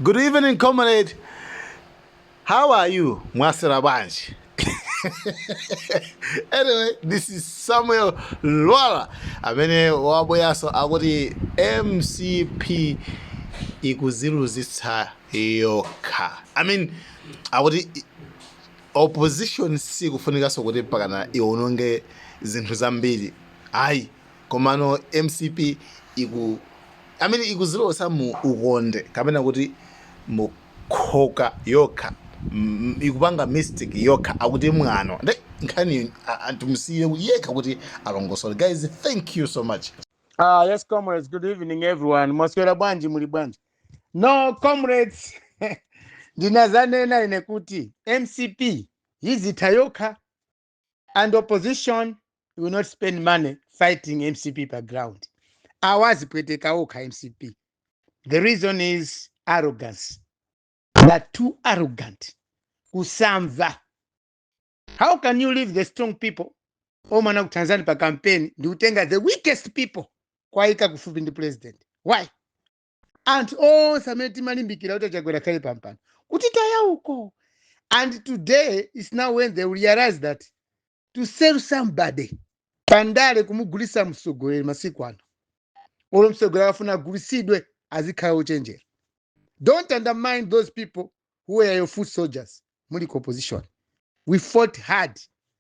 Good evening comrade how are you mwaswera bwanji anyway this is samuel lwara amene wabweranso akuti mcp ikuziluzitsa yokha i mean akuti opposition sikufunikanso kuti pakana iwononge zinthu zambiri ayi Komano mcp iku I mean ikuzilowesa mu ukonde kapena kuti mu khoka yokha mm ikupanga mistake yokha akuti mwano nde nkhaniyi aa timusiye yekha kuti alongosole guys thank you so much. Ah, yes, comrades. Good evening, everyone. Mwaswera bwanji muli bwanji? No, comrades. Ndinazanena ine kuti MCP yizitha yokha. and opposition will not spend money fighting mcp pa ground awa azipweteka okha mcp the reason is arrogance they are too arrogant kusamva how can you leave the strong people omwe anakuthandizani pa campaign ndi kutenga the weakest people kwayika kufupi ndi president why anthu onse amene timalimbikira kuti achakwera akhale pampano kutitaya uko and today is now when they realize that to sell somebody pandale kumugulisa mtsogoleri masiku ano olo mtsogoleri akafuna agulisidwe azikhala ochenjera don't undermine those people who were your foot soldiers muli ku opposition we fought hard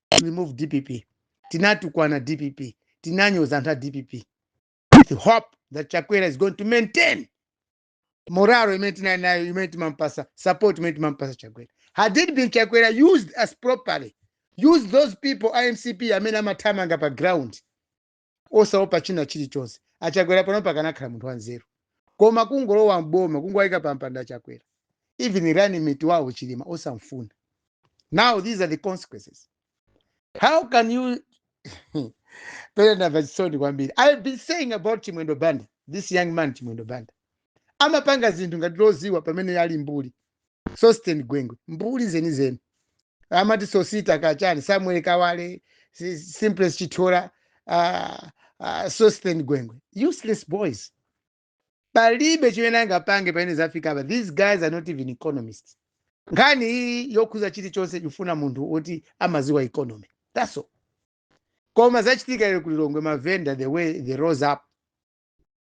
to remove dpp tinatukwana dpp tinanyoza anthu a dpp with hope that chakwera is going to maintain moralo imene tinali nayo imene timampasa support imene timampasa chakwera had it been chakwera used us properly used those people amcp amene amathamanga pa ground osaopa china chilichonse achakwera pano pakanakhala munthu wanzeru koma kungolowa mboma kungowayika pampando chakwera even running mate wawo chilima osamfuna now these are the consequences how can you ine ndamva chisoni kwambiri i have been saying about chimwendo banda this young man chimwendo banda amapanga zinthu ngati loziwa pamene ali mbuli sosten gwengwe mbuli zenizeni amati sosita kachani samuel kawale si- simplex chithola uh, uh, sosten gwengwe useless boys palibe chimene angapange pamene zafika apa these guys are not even economists nkhani iyi yokhuza chilichonse ikufuna munthu woti amaziwa economy that's all koma zachitika lero ku lilongwe mavenda the way they rose up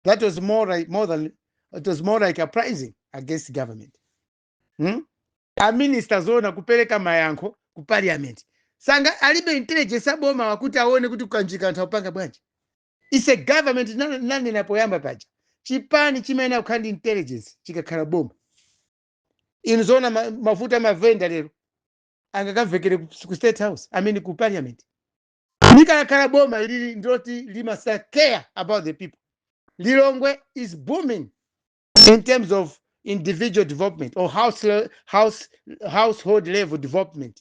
that was more like, more than it was more like uprising against government hmm? aminista zoona kupereka mayankho ku parliament sanga alibe intelligence aboma wakuti aone kuti ku Kanjika anthu akupanga bwanji It's a government ndinana- ndinanena poyamba paja. Chipani chimayenera kukhala ndi intelligence chikakhala boma. Inu zoona ma- mavuto amavenda lero angakamvekere ku ku state house, I mean ku parliament. Likakhala boma ili ndiloti limasa care about the people. Lilongwe is booming in terms of individual development or house le- house household level development.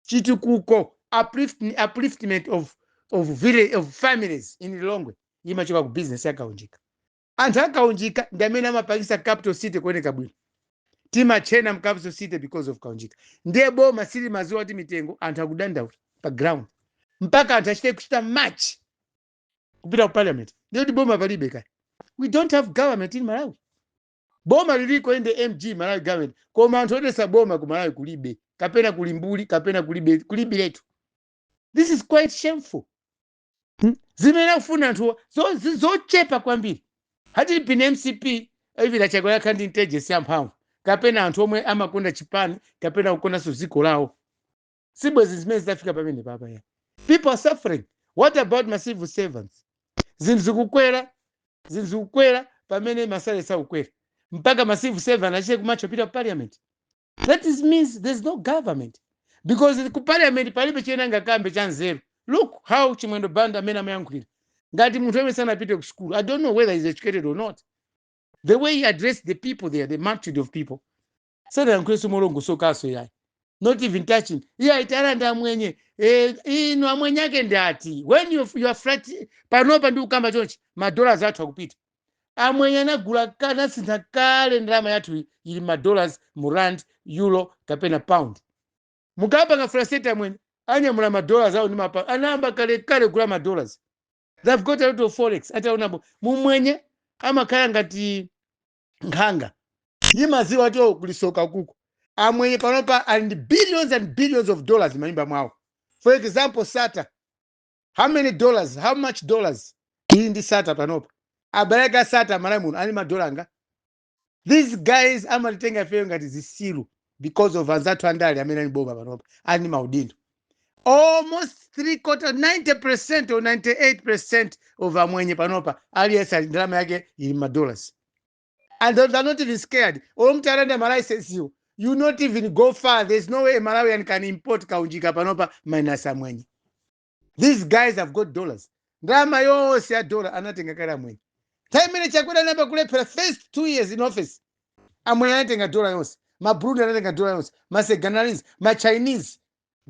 chitukuko uplift, upliftment of, of, village, of families in lilongwe imachoka ku business yakaunjika anthu akaunjika ndi amene amapangisa capital city kuoneka bwino timatchena m' capital city because of kaunjika ndiye boma silimaziwa ati mitengo anthu akudandaula pa ground mpaka anthu achite kuchita march kupita ku parliament ndiye kuti boma palibe kale we don't have government in malawi Boma liliko inde MG Malawi government koma anthu odesa boma ku Malawi kulibe kapena kuli mbuli kapena kulibe kulibiletu. This is quite shameful. Hmm? Zimene akufuna anthu zo, zi- zochepa kwambiri. Had it been MCP even a Chakwera akhala ndi intelligence yamphamvu kapena anthu omwe amakonda chipani kapena kukondanso dziko lawo sibwezi zimenezi zitafika pamene papaya people are suffering what about ma civil servants zinthu zikukwera zinthu zikukwera pamene masale sakukwera mpaka ma civil servant achite kumatcha kupita ku parliament that is means there's no government because ku parliament palibe chimene angakambe cha nzeru look how chimwendo banda mmene amayankhulira ngati munthu amene sanapite ku school i don't know whether he's educated or not the way he addressed the people there the multitude of people sanayankhulenso molongosokanso iyayi not even touching iyayi tiwalanda amwenye eh, inu amwenye ake ndi ati when you, you are frus- panopa ndikukamba chonchi madollars athu akupita amwenye anagula ka- anasintha kale ndalama yathu iyi, ili madollars mu rand euro kapena pound mukapanga frustrate amwenye anyamula madollars awo ndi mapa- anayamba kale kale kugula madollars they've got a lot of forex atawinabe mumwenye amakhala ngati nkhanga imaziwa kuti oh, kuli soka kuku amwenye panopa ali ndi billions and billions of dollars manyumba mwawo for example sattar how many dollars how much dollars ili ndi sattar panopa abale ake a sattar m'malawi muno ali madola angati these guys amatitenga ifeyo ngati zisilu because of anzathu andale amene ali m'boma panopa ali ndi maudindo almost three quarter 90 percent or 98 percent of amwenye panopa aliyense ali ndi ndalama yake ili madollars and they are not even scared olo mutawalanda malicense you you not even go far there's no way a malawian can import kaunjika panopa minus amwenye these guys have got dollars ndalama yonse ya dola anatenga kale amwenye nthawi imene chakwera amayamba kulephera first two years in office amwenye anatenga dola yonse maburundi anatenga dola yonse masenegalese machinese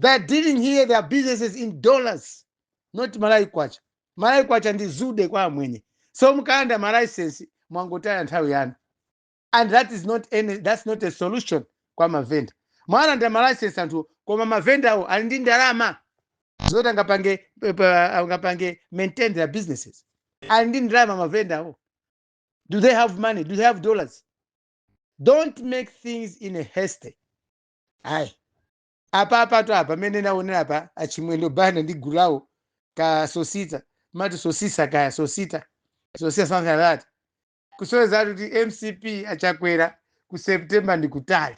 they are dealing here their businesses in dollars not malawi kwacha malawi kwacha ndi zude kwa amwenye so mukalanda malicense mwangotaya nthawi yanu and that is not any, that's not a solution kwa mavenda mwalanda malayisensi anthu koma mavendawo ali ndi ndalama zoti angapange eh, pa- angapange maintain their businesses ali ndi ndalama mavendawo do they have money do they have dollars don't make things in a haste ayi apa apatu apa mmene ndaonera apa achimwendo banda ndi gulu lawo ka sosita mati sosisa kaya sosita sosita something like that kusonyeza kuti mcp achakwera ku september ndi kutali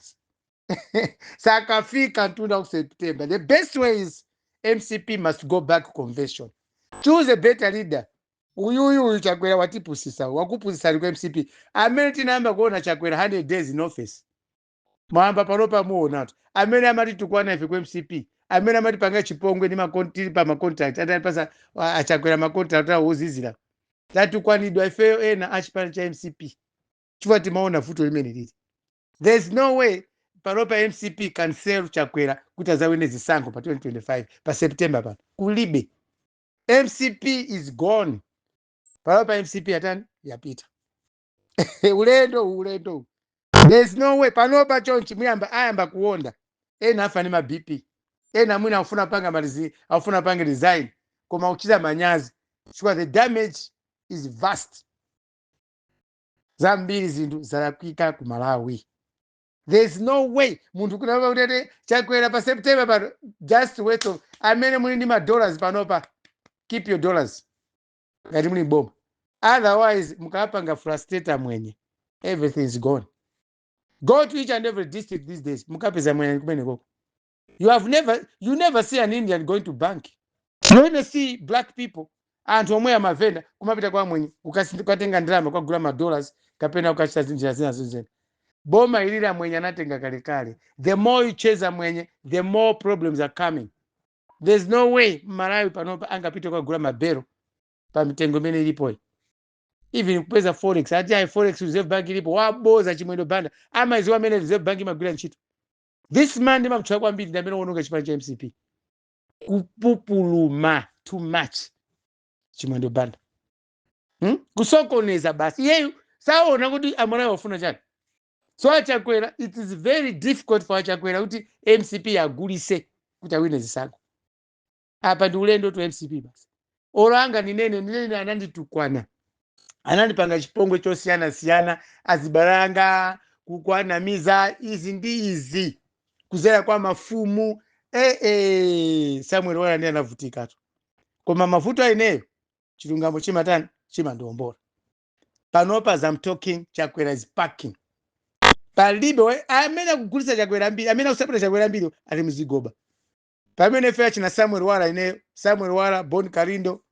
sakafika mtunda ku september the best way is mcp must go back to convention choose a better leader uyuyu uyu chakwera watipusisa wakupusisani ku mcp amene tinayamba kuona chakwera 100 days in office mwayamba panopa muonatu amene amatitukwana ife ku mcp amene amatipanga chipongwe ndi makon- tili pa macontract atapasa achakwera macontract awo ozizira tatukwanidwa ifeyo ena a chipani cha mcp chifukwa timaona vuto limene lili there is no way panopa mcp can sell chakwera kuti azawine zisankho pa 2025 pa september pano kulibe mcp is gone panopa mcp yatani yapita ulendo uwu, ulendo uwu. there's no way panopa chonchi muyamba ayamba kuonda ena afa ndi ma bp ena mwina akufuna kupanga malizi akufuna kupanga resign koma kuchita manyazi chifukwa the damage is vast zambiri zinthu zalakwika ku malawi there's no way munthu angavotere chakwera pa september pano just wait those of amene muli ndi ma dollars panopa keep your dollars ngati muli boma otherwise mukapanga frustrate amwenye everything is gone go to each and every district these days mukapeza mwenye kumeneko you have never you never see an indian going to bank you only see black people anthu omweyo mavenda kumapita kwa amwenye ukasi- kukatenga ndalama kukagula madollars kapena kukachita zinjira zina zozena boma ili la mwenye anatenga kalekale the more you chase amwenye the more problems are coming there's no way mmalawi panopa angapite kukagula mabelo pa mitengo imene ilipoyi even kupeza forex ati ayi forex reserve bank ilipo waboza chimwendo banda amaziwa mmene reserve bank imagwira ntchito this man ndimamtchula kwambiri ndi amene waononga chipani cha mcp kupupuluma too much chimwendo banda hmm? kusokoneza basi iyeyu saona kuti amalawi afuna chani so achakwera it is very difficult for achakwera kuti mcp aigulise kuti awine zisankho apa ndi ulendo to mcp basi olo angandinene ninene ananditukwana anandipanga chipongwe chosiyanasiyana azibalanga kukwanamiza izi ndi izi kuzera kwa mafumu eh, eh, samuel lwara ndiye anavutikatu koma mavuto ineyo chilungamo chimatani chimandiwombola panopa as I'm talking chakwera is packing palibe we- amene akugulitsa chakwera ambiri amene akusapota chakwera ambiri ali mzigoba pamene ife achina samuel lwara ineyo samuel lwara bon kalindo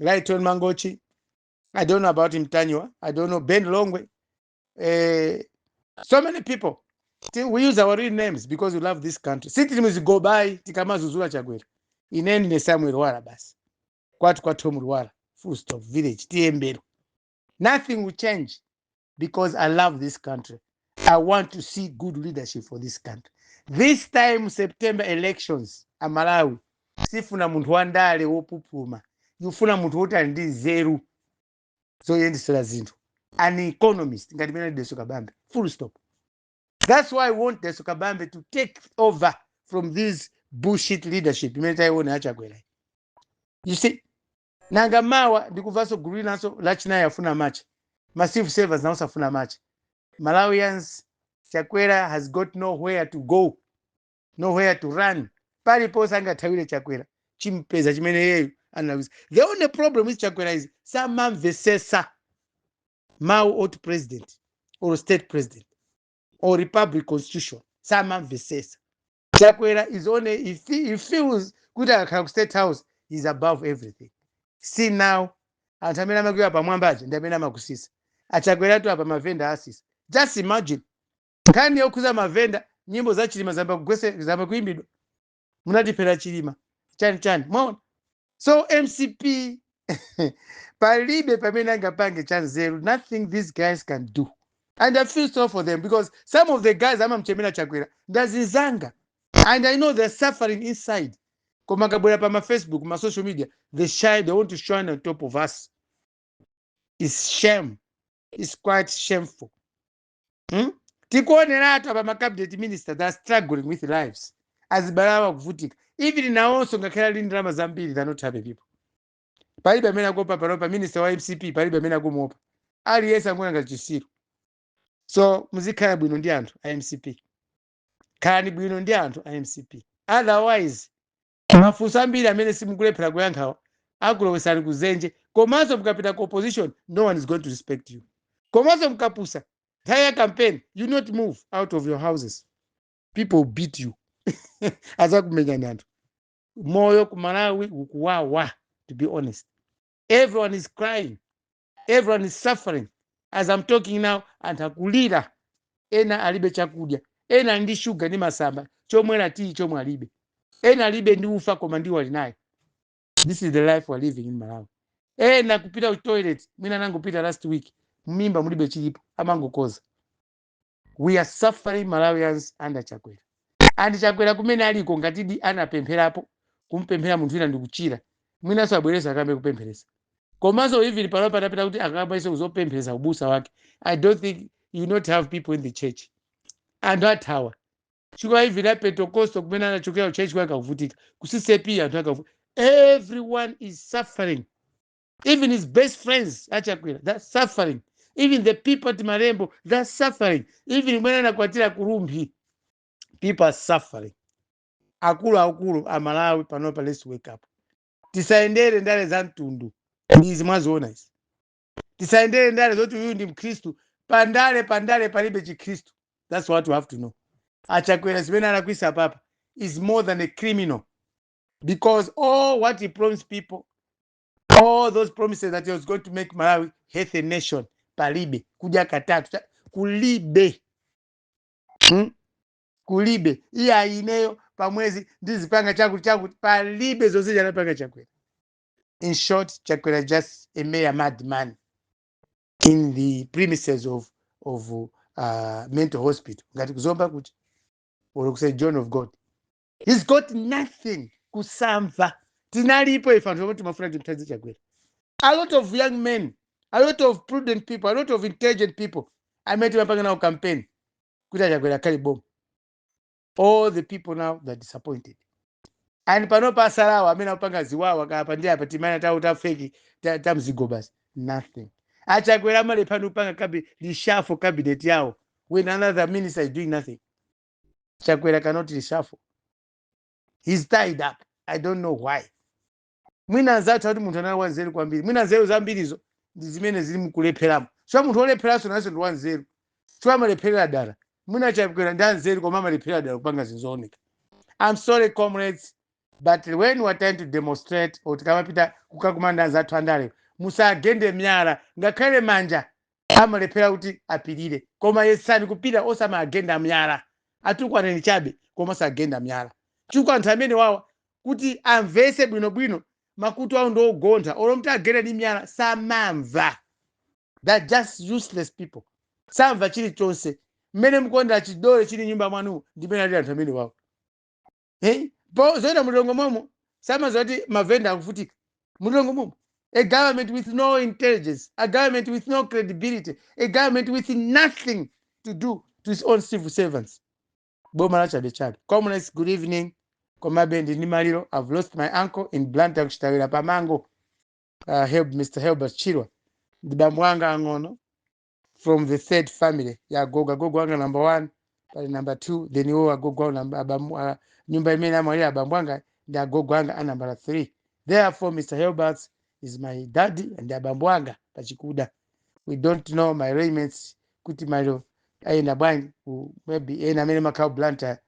lytton mangochi i don't know about mtanywa i don't know ben longwe eh, so many people Ti- we use our real names because we love this country sitili mzigobayi tikamazuzula chakwera ine ndine samuel lwara basi kwathu kwathu mulwara full stop village tiyembera nothing will change because i love this country i want to see good leadership for this country this time september elections malawi sifuna munthu wandale wopupuma ikufuna munthu woti ali ndi nzeru zoyendesera zinthu an economist ngati mmene daliso kabambe full stop that's why i want daliso kabambe to take over from this bullshit leadership imene tayiona yachakwera you see nanga mawa ndikuvanso gulu linanso lachinayi afuna amatche ma civil servants nawonso afuna amatche malawians chakwera has got nowhere to go nowhere to run paliponse angathawire chakwera chimpeza chimene iyeyo analawisa the only problem with chakwera is samamvesesa mawu oti president or state president or republic constitution samamvesesa chakwera is only he, fe- he feels kuti akakhala ku state house he's above everything see now anthu amene amakuika pamwamba aja ndi amene amakusisa achakweratu apa mavenda asisa just imagine nkhani yokhuza mavenda nyimbo za chilima zayamba kuimbidwa munatiphera chilima chani chani mwaona so mcp palibe pamene angapange cha nzeru nothing these guys can do and i feel sorry for them because some of the guys amamchemera chakwera ndazinzanga and i know they're suffering inside koma akabwera pa mafacebook ma social media they shy they want to shine on top of us it's shame it's quite shameful hmm? tikuoneratu apa ma cabinet minister are struggling with lives azibale awo akuvutika even nawonso ngakhale ali ndi ndalama zambiri they're not happy people palibe amene akuopa panopa minister wa mcp palibe amene akumuopa aliyense angoona ngati chisiru so muzikhala bwino ndi anthu a mcp khalani bwino ndi anthu a mcp otherwise mafunso ambiri amene simukulephera kuyankhawa akulowesani kuzenje komanso mukapita ku opposition no one is going to respect you komanso mukapusa nthawi ya campaign you not move out of your houses people will beat you azakumenyani anthu moyo ku malawi ukuwawa to be honest everyone is crying everyone is suffering as I'm talking now anthu akulira ena alibe chakudya ena ali ndi shuga ndi masamba chomwera tiyi chomwe alibe ena alibe ndi ufa koma ndiwo ali nayo this is the life we're living in malawi ena kupita ku toilet mwina anangopita last week m'mimba mulibe chilipo amangokoza we are suffering malawians under chakwera and chakwera kumene aliko ngatidi anapempherapo kumpempherera munthu wina ndikuchira mwinanso abwereza akayambe kupempheresa komanso even pano patapita kuti akayambenso kuzopempheresa ubusa wake i don't think you not have people in the church anthu athawa chifukwa even a pentecostal kumene anachokera kuchurch kwake akuvutika ku CCAP anthu akavu everyone is suffering even his best friends achakwera they're suffering even the people at malembo they're suffering even kumene anakwatira kurumphi people are suffering akulu akulu amalawi panopa let's wake up tisayendere ndale za mtundu ndizi mwaziona izi tisayendere ndale zoti uyu ndi mkhristu pandale pandale palibe chikhristu that's what you have to know achakwera zimene alakwisa apapa is more than a criminal because all what he promised people all those promises that he was going to make malawi healthy nation palibe kudya katatu cha- kulibe hmm? kulibe iye ayineyo pamwezi ndizipanga chakuti chakuti palibe zonse sanapange chakwera in short chakwera just a mere madman in the premises of, of uh, mental hospital ngati kuzomba kuja or ku saint john of god he's got nothing kusamva tinalipo ife anthu omwe timafuna timthandize chakwera a lot of young men a lot of prudent people a lot of intelligent people amene timapanga nawo campaign kuti achakwera akhale boma all the people now they're disappointed and panopa asalawa amene akupanga ziwawa akadaphi ndi apa timaganizo tafeki ta- tamzigo basi nothing achakwera amalephera kupanga kabi- reshuffle cabinet yawo when another minister is doing nothing chakwera cannot reshuffle he's tied up i don't know why mwina anzathu ati munthu anali wanzeru kwambiri mwina nzeru zambirizo ndi zimene zikumulepheretsa chifukwa munthu wolepheranso nayenso ndi wanzeru chifukwa amalepherera dala mwina chakwera ndi anzeru koma amalepherera dala kupanga zinthu zooneka i'm sorry comrades but when we are trying to demonstrate or tikamapita kukakumana ndi anzathu andale musagende miyala ngakhale manja amalephera kuti apirire koma yesani kupirira osamagenda myala atukwaneni chabe koma osagenda myala chifukwa anthu amene wawa kuti amvese bwinobwino makutu awo ndi ogontha olo mutawagenda ndi myala samamva they're just useless people samva chilichonse mmene mukuonera chidole chili m'nyumba mwanu ndi mmene alili anthu amene wawa hey po zoenda m'Lilongwe momo samaziwa kuti mavenda akuvutika m'Lilongwe momo a government with no intelligence a government with no credibility a government with nothing to do to its own civil servants boma la chabechabe comrades good evening komabe ndili ndi maliro i've lost my uncle in blantyre kuchitawira pamango uh, help mr helbert chirwa ndi bambo anga ang'ono from the third family ya agogo agogo anga number one pali number two then iwo agogo ao namba- abamu- a- nyumba imene amwalira abambo anga ndi agogo anga a nambala three therefore mr helberts is my daddy and abambo anga pachikuda we don't know my arrangements kuti maliro ayenda bwanji ku- maybe ena amene makhala blantyre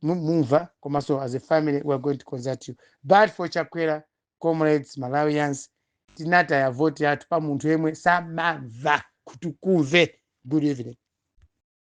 mu- mumva komanso as a family we are going to consult you but for chakwera comrades malawians tinataya voti yathu pa munthu yemwe samamva kutukumve good evening